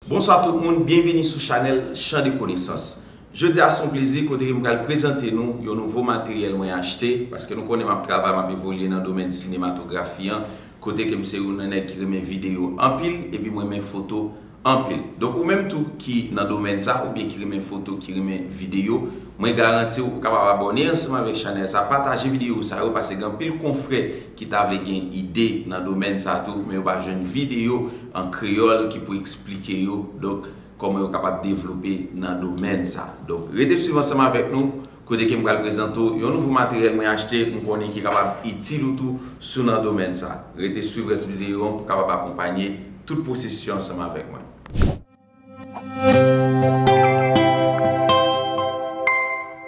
Bonswa tout moun, byenvini sou chanèl Chan de konesans. Jodi a son plezi kote ke m pral prezante nou yon nouvo materyèl mwen achte, paske nou konnen map travay, map evolye nan domèn sinematografi an, kote ke m se yon nan nèg ki renmen videyo anpil epi m renmen foto anpil. Donk ou menm tou ki nan domèn sa oubyen ki renmen foto, ki renmen videyo, mwen garanti w ou kapab abòne ansanm avèk chanèl sa, pataje videyo sa yo paske gen anpil konfrè ki ta vle gen ide nan domèn sa tou men yo pa jwenn videyo an kreyòl ki pou eksplike yo donk kòman yo kapab devlope nan domèn sa. Donk rete swiv ansanm avèk nou kote ke m pral prezante w yon nouvo materyèl mwen achte m konnen ki kapab itil ou tou si w nan domèn sa. Rete swiv rès videyo an pou w kapab akonpanye tout pwosesis yo ansanm avèk mwen.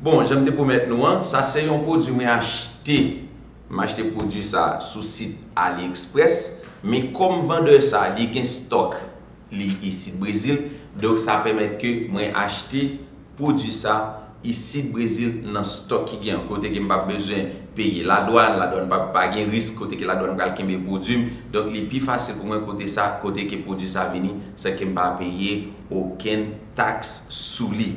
Bon janm te pwomèt nou an, sa se yon pwodwi mwen achte, m achte pwodwi sa sou sit AliExpress, men kòm vandè sa li gen stòk li isit Brezil, donk sa pèmèt ke mwen achte. pwodwi sa isit Brezil nan stòk ki gen kote ke m pap bezwen peye ladwann, ladwann pap pa gen risk kote ke ladwann pral kenbe pwodwi m, donk li pi fasil pou mwen kote sa kote ke pwodwi sa vini san ke m pa peye okenn taks sou li.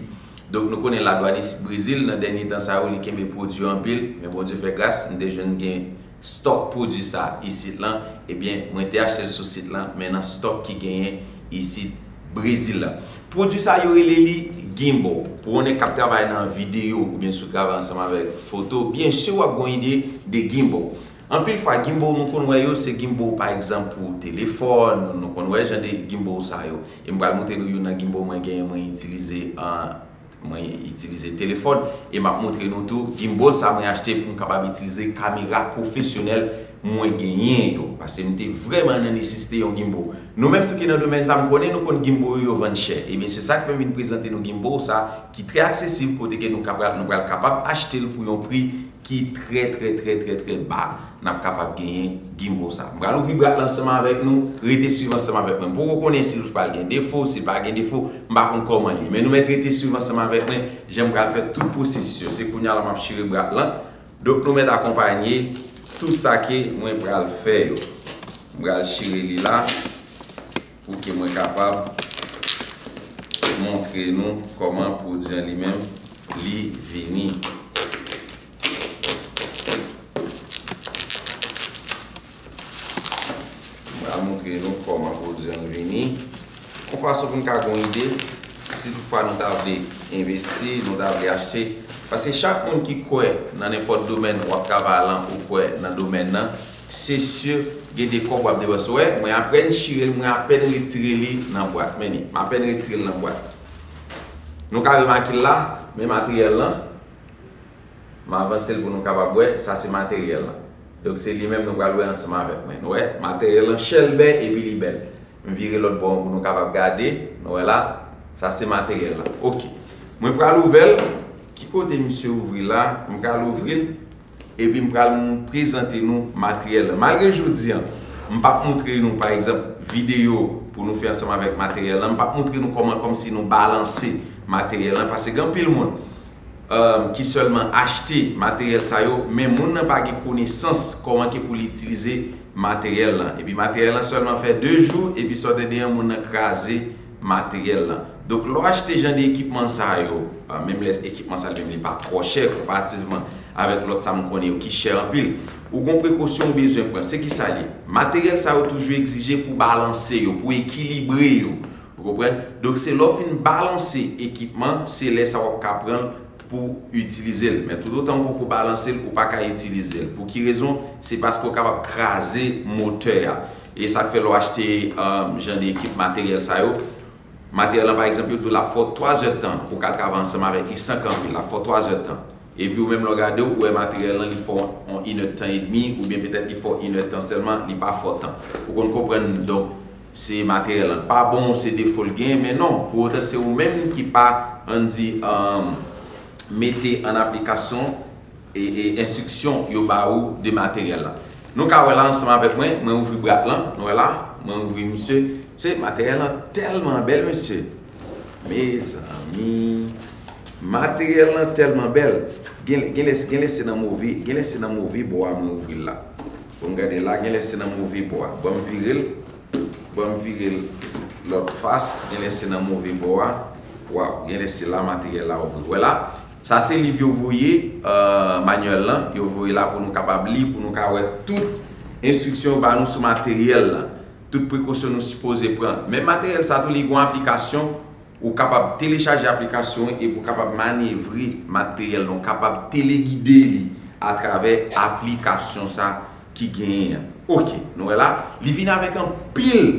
Donk nou konnen ladwann isit Brezil nan dènye tan sa yo li kenbe pwodwi anpil, men Bondye fè gras m te jwenn gen Stock pwodwi sa isit lan ebyen mwen te achte l sou sit lan men nan stock ki genyen isit Brezil la. Pwodwi sa yo rele li Gimbal. Pou yon nèg kap travay nan video oubyen sou travay ansanm avèk foto byen sur wap gen yon ide de Gimbal. Anpil fwa Gimbal nou konn wè yo se Gimbal pa egzanp pou telefòn, nou konn wè jan de Gimbal sa yo. E m pral montre nou youn nan Gimbal mwen genyen mwen itilize an. Mwen itilize telefòn e map montre nou tou gimbal sa mwen achte pou m kapab itilize kamera pwofesyonèl mwen genyen yo. Pase m te vrèman nan nesisite yon gimbal. Nou menm tou ki nan domèn sa m konnen nou konn gimbal yo yo vann chè. Ebyen se sak fè m vin prezante nou gimbal sa ki trè aksesib kote ke nou ka pral nou pral kapab achte l pou yon pri ki trè trè trè trè trè ba nap kapab genyen gimbo sa. M pral ouvri brat lan ansanm avèk nou, rete swiv ansanm avèk mwen. M poko konnen sil pral gen defo, sil pa gen defo, m pa konn kòman l ye. Men nou mèt rete swiv ansanm avèk mwen jan m pral fè tout pwosesis yo. Se kounya la map chire brat lan. Donk nou mèt akonpanye tout sa ke mwen pral fè yo. M pral chire li la. Pou ke mwen kapab montre nou kòman pwodui an li menm li vini. M pral montre nou kòman pwodui an vini. Yon fason pou nou ka gen yon ide, si tout fwa nou ta vle envesti, nou ta vle achte. Paske chak moun ki kwè nan nenpòt domèn, w ap travay lan ou kwè nan domèn nan. Se sur gen de kob wap depanse wè mwen apèn chirel mwen apèn retire li nan bwat men li mapèn retirel nan bwat nou ka remakil la men materyèl lan m avansel pou nou kapab wè sa se materyèl lan donk se li menm nou pral wè ansanm avèk mwen nou wè materyèl lan chèlbè epi li bèl m vire lòt bò an pou nou kapab gade nou wè la sa se materyèl lan ok mwen pral ouvèl ki kote misye ouvri la m pral ouvril. Epi m pral prezante nou materyèl lan. Malgre jodi an, m pap moutre nou, pa egzanp, videyo pou nou fè ansanm avèk materyèl lan, m pap moutre nou kòman kòmsi nou balanse materyèl lan, pase gen anpil moun ki sèlman achte materyèl sa yo, men moun nan pa gen konesans kòman ke pou li itilize materyèl lan. Epi materyèl lan sèlman fè 2 jou, epi sa w te deyen moun nan kraze materyèl lan. Donk lè w achte jan de ekipman sa yo, menm lè ekipman sa menm li pa twò chè konparativman avèk lòt sa m konnen yo ki chè anpil, ou gon prekosyon ou bezwen pran. Se ki sa l ye? Materyèl sa yo toujou egzije pou balanse yo, pou ekilibre yo. Ou konprann? Donk se lè w fin balanse ekipman, se lè sa w ap ka pran l pou w itilize l. Men toutotan ou poko balanse l, ou pa ka itilize l. Pou ki rezon? Se paske ou kapab kraze motè a. E sa k fè lè w achte jan de ekip materyèl sa yo, materyèl lan pa egzanp yo di w l ap fè w 3 zè tan pou w ka travay ansanm avèk li san kanpe, l ap fè w 3 zè tan. Epi ou menm lè w gade w wè materyèl lan li fè w yon inèdtan edmi oubyen petèt li fè w inèdtan sèlman, li pa fè w tan. Ou konn konprann donk se materyèl lan k pa bon, se defo l genyen men non, pou otan se ou menm ki pa ann di mete an aplikasyon. enstriksyon yo ba ou de materyèl la. Nou ka wè la ansanm avèk mwen, mwen ouvri brat lan, nou wè la, mwen ouvri misye. Mesye, materyèl lan tèlman bèl mesye! Mezanmi! Materyèl lan tèlman bèl, gen lè, gen lè se nan move, gen lè se nan move bò a mwen ouvri l la. Bon m gade la, gen lè se nan move bò a. Bon m vire l, bon m vire l lòt fas, gen lè se nan move bò a. Waw, gen lè se la materyèl la ouvri. Ou wè la? Sa se liv yo voye, Manuel lan, yo voye la pou nou kapab li, pou nou ka wè tout enstriksyon yo ba nou sou materyèl lan, tout prekosyon nou sipoze pran. Men materyèl sa tou li gen yon aplikasyon, ou kapab telechaje aplikasyon an epi ou kapab manyevre materyèl lan, ou kapab telegide li atravè aplikasyon sa. ki genyen an. Ok, nou wè la, li vin avèk anpil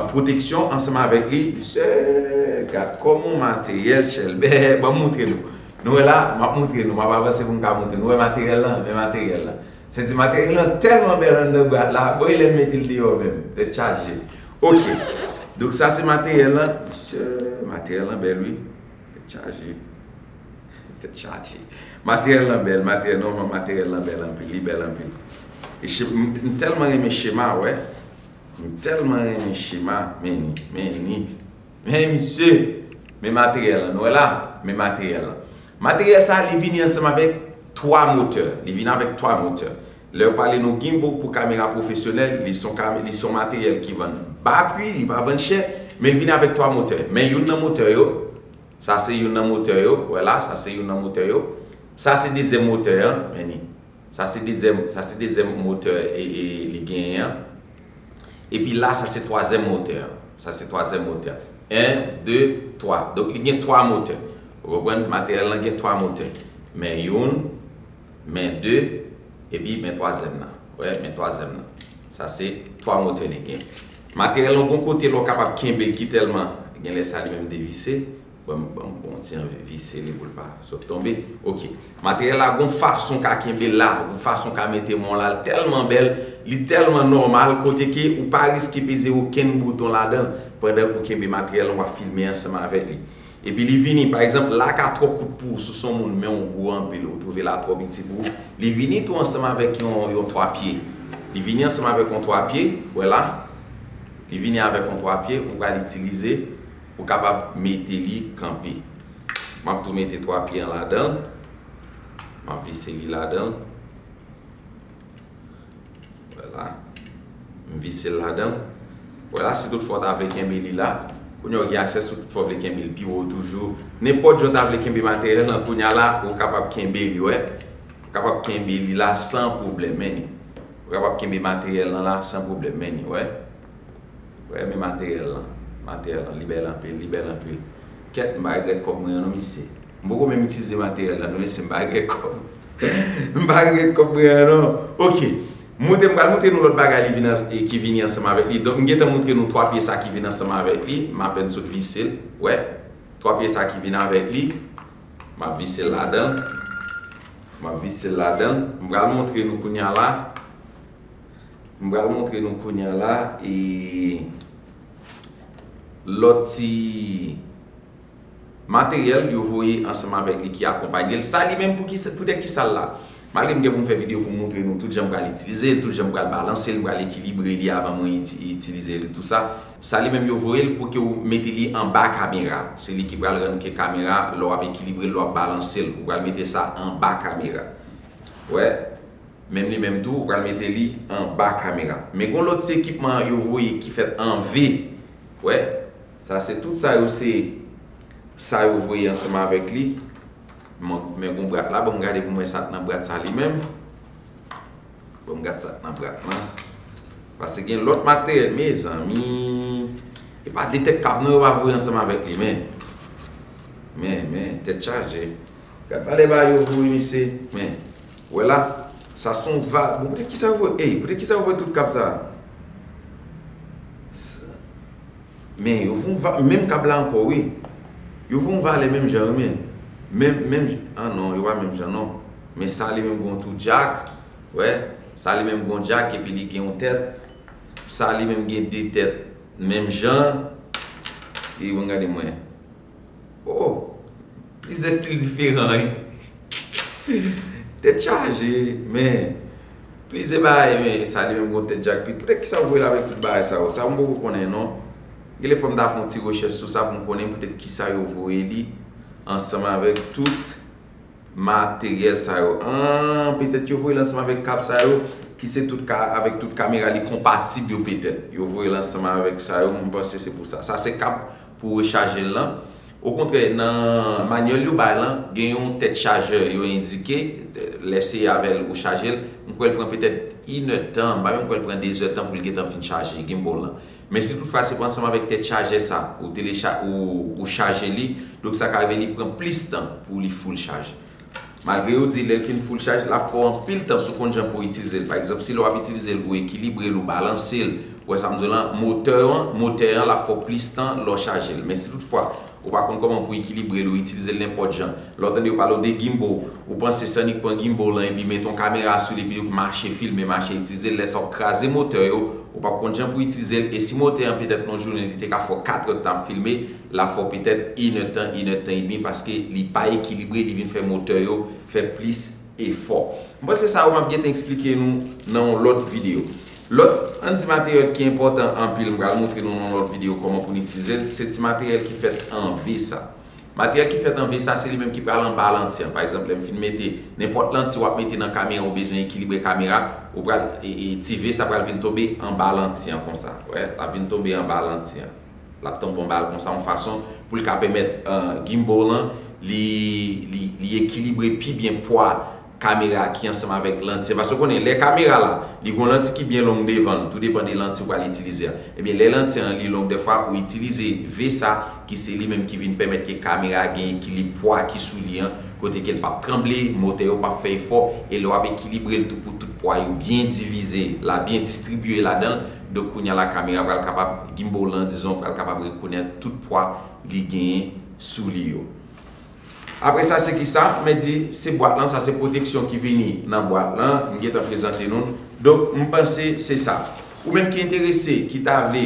pwoteksyon ansanm avèk li. Mesye, gad kòman materyèl chèlbè, ban m montre nou. Nou wè la, m ap montre nou, m ap avanse pou m ka montre nou. Nou wè materyèl lan, men materyèl lan. Sèdi materyèl lan tèlman bèl anndan bwat la, bon e lè m mete l deyò menm, tèt chaje. Ok, donk sa se materyèl lan. Mesye, materyèl lan bèl wi. Tèt chaje. Tèt chaje. Materyèl lan bèl. Materyèl non man materyèl lan bèl anpil. Li bèl anpil. E che m tèlman renmen chema wè. M tèlman renmen chema. Men ni. Men ni. Men misye. Men materyèl lan. Nou wè la? Men materyèl lan. Materyèl sa li vini ansanm avèk 3 motè. Li vini avèk 3 motè. Lèw pale nou gimbo pou kamera pwofesyonèl li son ka li son materyèl ki vann ba pri li pa vann chè men li vini avèk 3 motè men youn nan motè yo sa se youn nan motè yo wè la sa se youn nan motè yo sa se dezyèm motè an men ni sa se dezyèm sa se dezyèm motè e li genyen an epi la sa se twazyèm motè an sa se twazyèm motè an 1 2 3 donk li gen 3 motè ou konprann materyèl lan gen 3 motè men youn. Men 2, epi men twazyèm nan. Wè, men twazyèm nan. Sa se twa motè li gen. Materyèl lan gon kote lè w kapab kenbe l ki tèlman gen lè sa li menm devise. Ban m yon ti anvi vise li pou l pa sot tonbe. Ok. Materyèl la gon fason w ka kenbe l la, gon fason w ka mete men w la. L tèlman bèl, li tèlman nòmal kote ke ou pa riske peze okenn bouton ladan l pandan ou kenbe materyèl lan w ap filme ansanm avèk li. Epi li vini, pa egzanp, la ka twò kout pou ou si w se yon moun men ou gwo anpil, ou twouve la twò piti pou ou, li vini tou ansanm avèk yon twa pye. Li vini ansanm avèk yon twa pye, wè la, li vini avèk yon twa pye ou pral itilize pou kapab mete li kanpe. M ap tou mete twa pye an ladan l. M ap vise li ladan l. Wè la, m vise l ladan l. Wè la, si tout fwa w ta vle kenbe li la, kounye a w gen aksè sou tout fwa w vle kenbe l pi wo toujou. Nenpòt jan w ta vle kenbe materyèl lan kounye a la, ou kapab kenbe li, wè. Ou kapab kenbe li la san pwoblèm, men ni. Ou kapab kenbe materyèl lan la san pwoblèm, men ni, wè. Wè men materyèl lan Materyèl lan li bèl anpil Li bèl anpil Kèt m pa regrèt kòb mwen yo non mesye M poko menm itilize materyèl lan non mesye M pa regrèt kòb M pa regrèt kòb mwen an non Ok Moute m pral moutre nou lòt bagay ki vini ansanm avèk li Donk m gentan moutre nou 3 pye sa ki vin ansanm avèk li M apèn sot vise l Wè 3 pye sa ki vin avèk li M ap vise l ladan l M ap vise l ladan l M pral moutre nou kounya la M pral montre nou kounya la e lòt ti materyèl yo voye ansanm avèk li ki akonpanye l. Sa li menm poutèt ki sa l la? Malgre m gen pou m fè videyo pou m montre nou tout jan m pral itilize l, tout jan m pral balanse l, m pral ekilibre li avan mwen itilize l e tou sa. Sa li menm yo voye l pou ke ou mete li anba kamera. Se li ki pral rann ke kamera lè w ap ekilibre l, lè w ap balanse l. Ou pral mete sa anba kamera. Wè? Menm li menm tou ou pral mete li anba kamera. Men gon lòt ti ekipman yo voye ki fèt an V. Wè? Sa se tout sa yo se sa yo voye ansanm avèk li. Men gon brat la banm gade poum wè sa k nan brat sa li menm. Banm gad sa k nan brat lan. Pase gen lòt materyèl mezanmi. E pa de tèt kab non yo va voye ansanm avèk li men. Men men tèt chaje. Gad valè bagay yo voye mesye. Men. Wè la, sa son vag. Bon poutèt kisa yo voye ey, poutèt kisa yo voye tout kab sa? Men yo voye yon va, menm kab la ankò wi. Yo voye yon valè menm jan wi men. Menm, menm jan, an non, yo pa menm jan non. Men sa li menm gen yon tou djak, wè. Sa li menm gen yon djak epi li gen yon tèt. Sa li menm gen de tèt menm jan. Epi bon gade mwen. Oh plizyè stil diferan wi. Tèt chaje men plizyè bagay men sa li menm gon tèt jak pi poutèt kisa ou voye l avèk tout bagay sa yo sa m poko konnen non genlè fò m ta fè yon ti rechèch sou sa pou m konnen poutèt kisa yo voye li ansanm avèk tout materyèl sa yo aah petèt yo voye l ansanm avèk kab sa yo ki se tout ka avèk tout kamera li konpatib yo petèt yo voye l ansanm avèk sa yo m panse se pou sa sa se kab pou rechaje l lan. Okontrè, nan manyèl yo bay lan, gen yon tèt chajè yo endike, lè se avè l ou chaje l, m kwè l pran petèt inèdtan, m pa menm kwè l pran dezèdtan pou l gentan fin chaje gimbal lan. Men si tout fwa se ansanm avèk tèt chajè sa ou telecha ou chaje li, donk sa ka rive li pran plis tan pou li full chaje. Malgre yo di lè l fin full chaj, l ap fè w anpil tan sou konn jan pou w itilize l. Pa egzanp, si lè w ap itilize l, ou ekilibre l, ou balanse l, ou wè sa m di w la, motè an, motè an l ap fè w plis tan lè w chaje l. Men si tout fwa, ou pa konn kòman pou w ekilibre l, ou itilize l nenpòt jan. Lè w tande yo pale w de gimbal, ou panse se annik pran gimbal lan epi mete yon kamera sou li epi w mache filme, mache itilize l, lè sa w ap kraze motè yo, ou p ap konn jan pou w itilize l, e si motè an petèt nan yon jounen li te ka fè w 4 èdtan ap filme, la fò petèt inè tan inè tan edmi paske li pa ekilibre li vin fè motè yo fè plis efò m panse sa yo map gentan eksplike nou nan yon lòt video lòt an ti materyèl ki enpòtan anpil m pral moutre nou nan yon lòt video kòman pou n itilize l se ti materyèl ki fèt an V sa materyèl ki fèt an V sa se li menm ki pral anba lanti an pa egzanp lè m fin mete nenpòt lanti wap mete nan kamera ou bezwen ekilibre kamera ou pral ti V sa pral vin tonbe anba lanti an konsa wè lap vin tonbe anba lanti an. L ap tanpon bal konsa yon fason pou l ka pèmèt gimbal lan li ekilibre pi byen pwa kamera ki ansanm avèk lanti a. Paske ou konnen lè kamera la, li gen yon lanti ki byen long devan l, tou depan de lanti ou pral itilize a. Ebyen lè lanti an li long dèfwa ou itilize ve sa ki se li menm ki vin pèmèt ke kamera a gen ekilib pwa ki sou li an, kote ke l p ap tranble, motè yo p ap fè efò, e lè w ap ekilibre l tou pou tout pwa yo byen divize la, byen distribye ladan l. Donk kounya la kamera pral kapab, gimbal lan dizon pral kapab rekonèt tout pwa li genyen sou li yo. Apre sa se kisa? Mwen di se bwat lan, sa se pwoteksyon ki vini nan bwat lan, m gentan prezante nou l. Donk m panse se sa. Ou menm ki enterese, ki ta vle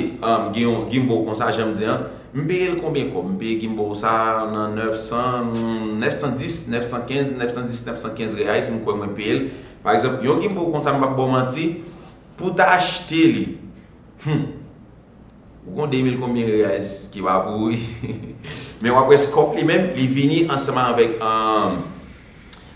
gen yon gimbal konsa jan m di an, m peye l konbyen kòb? M peye gimbal sa nan 900, 910, 915, 910, 915 reais m kwè mwen peye l. Pa egzanp, yon gimbal konsa m pap ba w manti, Pou ta achte li. Hum. Ou gon 2000 konbyen reais ki pa pou ou wi. Men wap wè scope li menm li vini ansanm avèk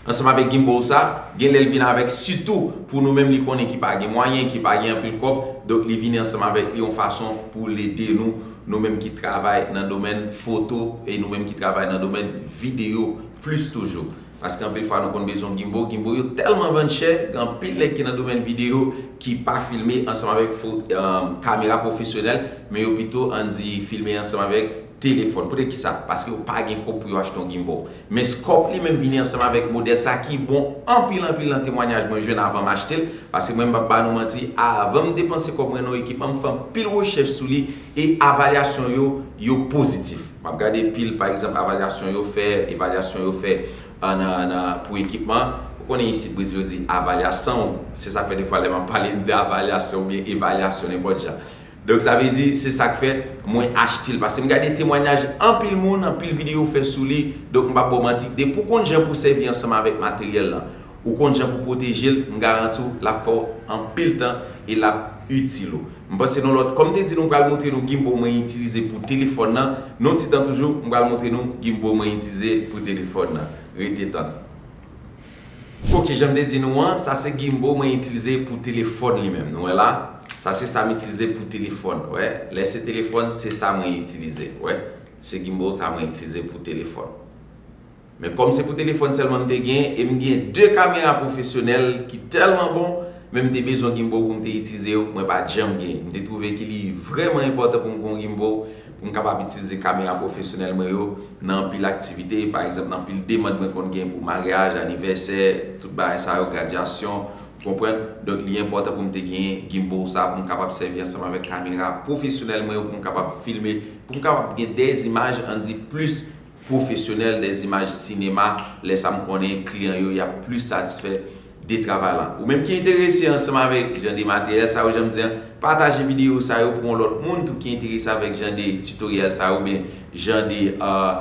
ansanm avèk gimbal sa, gen lèl vin avèk sitou pou nou menm li konnen ki pa gen mwayen, ki pa gen anpil kòb, donk li vini ansanm avèk li yon fason pou l ede nou, nou menm ki travay nan domèn foto e nou menm ki travay nan domèn videyo plis toujou. Paske anpil fwa nou konn bezwen gimbo, gimbo yo tèlman vann chè, gen anpil nèg ki nan domèn videyo ki pa filme ansanm avèk kamera pwofesyonèl, men yo pito ann di filme ansanm avèk telefòn. Poutèt ki sa? Paske yo pa gen kob pou yo achte yon gimbo. Men Scorp li menm vini ansanm avèk modèl sa ki bon anpil anpil nan temwanyaj mwen jwenn avan m achte l, paske mwen menm m pap ba nou manti, avan m depanse kòb mwen nan yon ekipman m fè anpil rechèch sou li e avalyasyon yo, yo pozitif. M ap gade pil pa egzanp avalyasyon yo fè, evalyasyon yo fè nan pou ekipman. Ou konnen isit Brezil yo di avalyasanw. Se sa k fè defwa lè m ap pale m di avalyasyon oubyen evalyasyon nenpòt jan. Donk sa vle di se sa k fè mwen achte l paske m gade temwanyaj anpil moun, anpil videyo fè sou li. Donk m p ap ba w manti depi w konn jan pou w sèvi ansanm avèk materyèl lan. Ou konn jan pou pwoteje l, m garanti w l ap fè w anpil tan e l ap itil ou. M panse nou lòt. Kòm m te di nou m pral montre nou gimbo mwen itilize pou telefòn nan. Yon ti tan toujou, m pral montre nou gimbo mwen itilize pou telefòn nan. Rete tann. Ok, jan m te di nou an, sa se gimbo mwen itilize pou telefòn li menm. Nou wè la? Sa se sa m itilize pou telefòn. Wè? Lè se telefòn, se sa mwen itilize. Wè? Se gimbo sa mwen itilize pou telefòn. Men kòm se pou telefòn sèlman m te gen e m gen 2 kamera pwofesyonèl ki tèlman bon, men m te bezwen gimbal pou m te itilize yo mwen pa t janm gen. M te twouve ki li vrèman enpòtan pou m gen yon gimbal pou m kapab itilize kamera pwofesyonèl mwen yo nan anpil aktivite, pa egzanp nan anpil demand mwen konn gen pou maryaj, anivèsè, tout bagay sa yo, gradyasyon, ou konprann. Donk li enpòtan pou m te gen gimbal sa pou m kapab sèvi ansanm avèk kamera pwofesyonèl mwen yo pou m kapab filme, pou m kapab gen dè imaj an di plis pwofesyonèl dè zimaj sinema, lè sa m konnen kliyan yo y ap plis satisfè de travay lan. Ou menm ki enterese ansanm avèk jan de materyèl sa yo, jan m di an, pataje videyo sa yo pou yon lòt moun tou ki enterese avèk jan de titoryèl sa yo oubyen jan de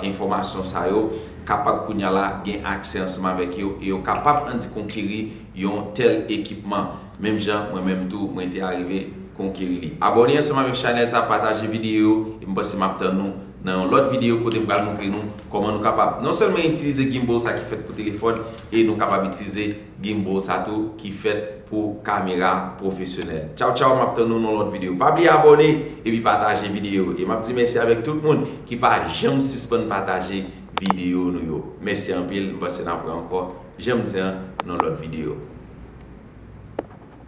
enfòmasyon sa yo kapab kounya la gen aksè ansanm avèk yo e yo kapab andik konkeri yon tèl ekipman menm jan mwen menm tou mwen te arive konkeri li. Abòne ansanm avèk chanèl sa, pataje videyo yo e m panse m ap tann ou. nan yon lòt videyo kote m pral moutre nou kòman nou kapab non sèlman itilize gimbal sa ki fèt pou telefòn e nou kapab itilize gimbal sa tou ki fèt pou kamera pwofesyonèl. Tchaw tchaw map tann nou nan lòt videyo pa bliye abòne epi pataje videyo e map di mèsi avèk tout moun ki pa janm sispann pataje videyo nou yo mèsi anpil m panse nap wè ankò janm di an nan lòt videyo.